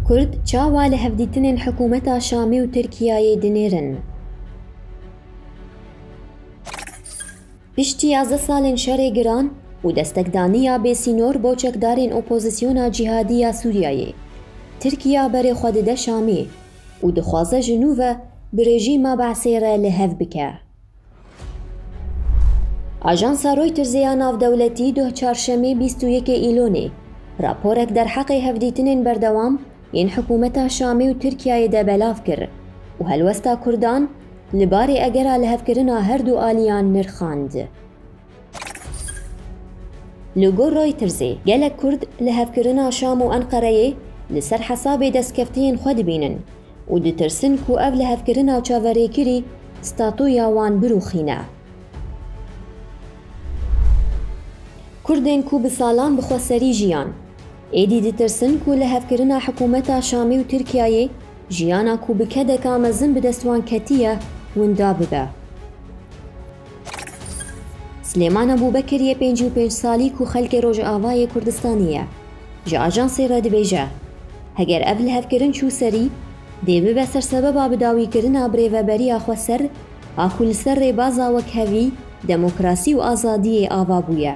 Kurd çawa li hevdîtinên hikûmeta Şamê û Tirkiyeyê dinêrin? Piştî yazdeh salên şerê giran û destekdaniya bêsînor bo çekdarên opozîsyona cîhadî ya Sûriyeyê, Tirkiya berê xwe dide Şamê û dixwaze ji nû ve bi rejîma Be'sê re li hev bike. Ajansa Reutersê ya Navdewletî doh Çarşemê bîst û yekê Îlonê raporek derheqê hevdîtinên berdewam yên hikûmeta Şamê û Tirkiyeyê de belav kir û helwesta Kurdan li barê egera lihevkirina her du aliyan nirxand. Li gor Reutersê gelek Kurd li hevkirina Şam û Enqereyê li ser hesabê destkeftiyên xwe dibînin û ditirsin ku ev lihevkirina çaverêkirî statuya wan birûxîne. Kurdên ku bi salan bi xweserî jiyan, êdî ditirsin ku lihevkirina hikûmeta Şamê û Tirkiyeyê jiyana ku bi kedeka mezin bi dest wan ketiye, winda bibe. Silêman Ebûbekir yê pêncî û pênc salî ku xelkê Rojavayê Kurdistanê ye, ji ajansê re dibêje, Heger ev lihevkirin çû serî, dê bibe ser sebeba bidawîkirina birêveberiya xwe ser a ku li ser rêbaza wekhevî, demokrasî û azadiyê ava bûye.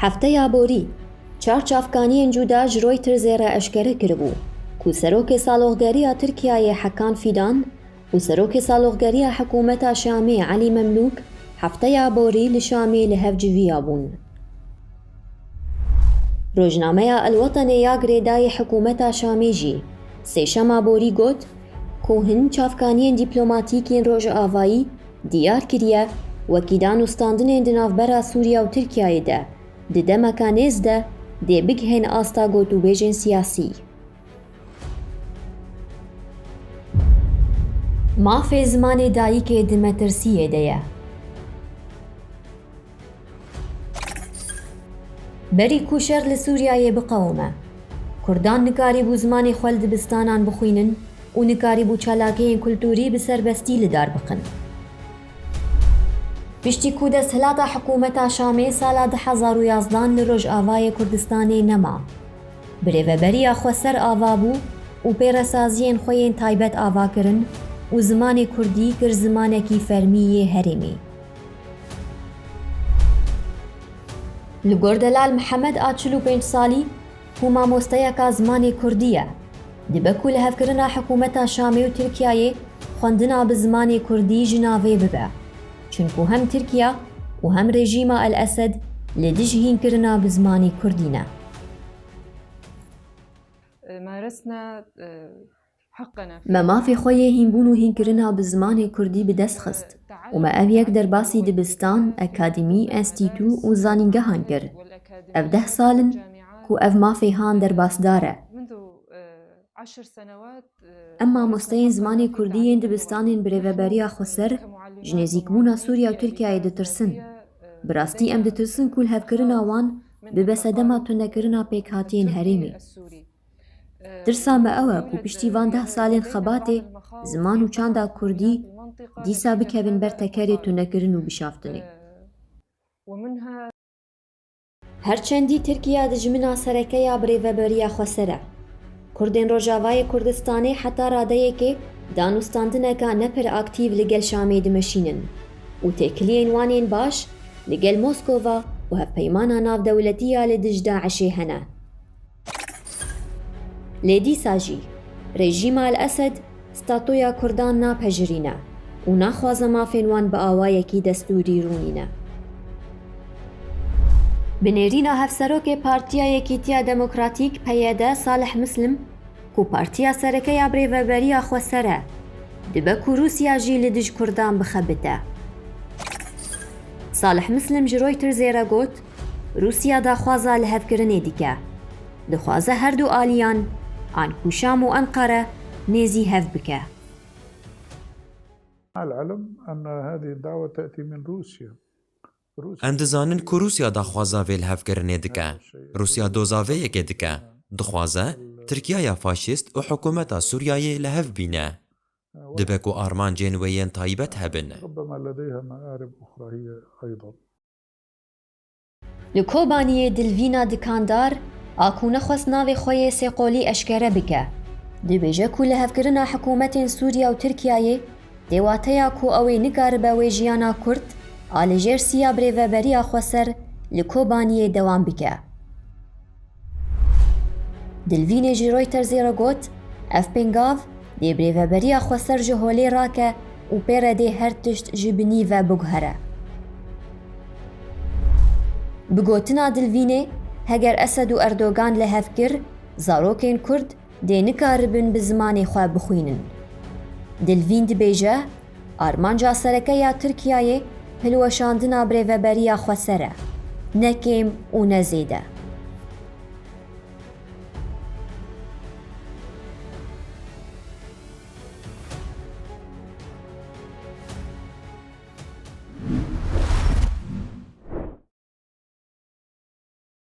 Hefteya borî çar çavkaniyên cuda ji Reutersê re eşkere kiribû ku Serokê Saloxgeriya Tirkiyeyê Hekan Fîdan û Serokê Saloxgeriya Hikûmeta Şamê Elî Memlûk hefteya borî li Şamê li hev civiya bûn. Rojnameya El Wetenê ya girêdayî hikûmeta Şamê jî sêşema borî got ku hin çavkaniyên dîplomatîk yên Rojavayî Diyar kiriye, wekîlan û standinên di navbera Sûriya û Tirkiyeyê de di demeke nêz de dê bigihên asta gotûbêjên siyasî. Mafê zimanê dayikê di metirsiyê de ye. Berî ku şer li Sûriyeyê biqewime, Kurdan nikarîbû zimanê xwe li dibistanan bixwînin û nikarîbû çalakiyên kulturî bi serbestî li dar bixin. Piştî ku desthilata hikûmeta Şamê sala du hezar û yazdan li Rojavayê Kurdistanê nema, birêveberiya xwe ser ava bû û pêresaziyên xwe yên taybet ava kirin û zimanê kurdî kir zimanekî fermî yê herêmê. Li gor Delal Mihemed a çil û pênc salî ku mamosteyeka zimanê kurdî ye, dibe ku li hevkirina hikûmeta Şamê û Tirkiyeyê xwendina bi zimanê kurdî ji navê bibe. Çunku hem Tirkiye û hem rejîma El Esed li dij hînkirina bi zimanê kurdî ne. Maresna Me mafê xwe yê hînbûn û hînkirina bi zimanê kurdî bi dest xist û me ev yek derbasî dibistan, akademî, enstîtû û zanîngehan kir. Ev deh sal in ku ev mafê han derbasdar e. Em mamosteyên zimanê kurdî yên dibistanên bi rêveberiya Xweser ji nêzîkbûna Sûriye û Tirkiyeyê ditirsin. Bi rastî em ditirsin ku lihevkirina wan bibe sedema tundekirina pêkhatiyên herêmê. Tirsa me ew e ku piştî van deh salên xebatê ziman û çanda kurdî dîsa bikevin ber tekerê tunekirin û bişaftinê. Her çendî Tirkiya dijmina sereke ya birêveberiya xweser e. Kurdên Rojavayê Kurdistanê heta radeyekê danûstandineka ne pir aktîv li gel Şamê dimeşînin û têkiliyên wan ên baş li gel Moskova û hevpeymana navdewletî ya li dij DAIŞ'ê hene. Lê dîsa jî rejîma El Esed statoya Kurdan napejirîne û naxwaze mafên wan bi awayekî destûrî rûnîne. Bi nêrîna Hevserokê Partiya Yekîtiya Demokratîk, PYD, Salih Muslim, ku partiya sereke ya birêveberiya Xweser e, dibe ku Rûsya jî li dij Kurdan bixebite. Salih Muslim ji Reutersê re got, Rûsya daxwaza lihevkirinê dike. Dixwaze her du aliyan an ku Şam û Enqere nêzî hev bike. Em dizanin ku Rûsya daxwaza vê lihevkirinê dike. Rûsya doza vê yekê dike. Dixwaze Tirkiyaya faşîst û hikûmeta Sûriyeyê li hev bîne. Dibe ku armancên wê yên taybet hebin. Li Kobaniyê Dilvîna Dikandar a ku nexwest navê xwe yê sêqolî eşkere bike, dibêje ku lihevkirina hikûmetên Sûriya û Tirkiyeyê dê wateya ku ew ê nikaribe wê jiyana kurt a li jêr siya birêveberiya xweser li Kobaniyê dewam bike. Dilvînê jî Reutersê re got, Ev pêngav dê birêveberiya xwe ser ji holê rake û pê re dê her tişt ji binî ve biguhere. Bi gotina Dilvînê, heger Esed û Erdogan li hev kir, zarokên Kurd dê nikaribin bi zimanê xwe bixwînin. Dilvîn dibêje, Armanca sereke ya Tirkiyeyê hilweşandina birêveberiya Xweser e, ne kêm û ne zêde.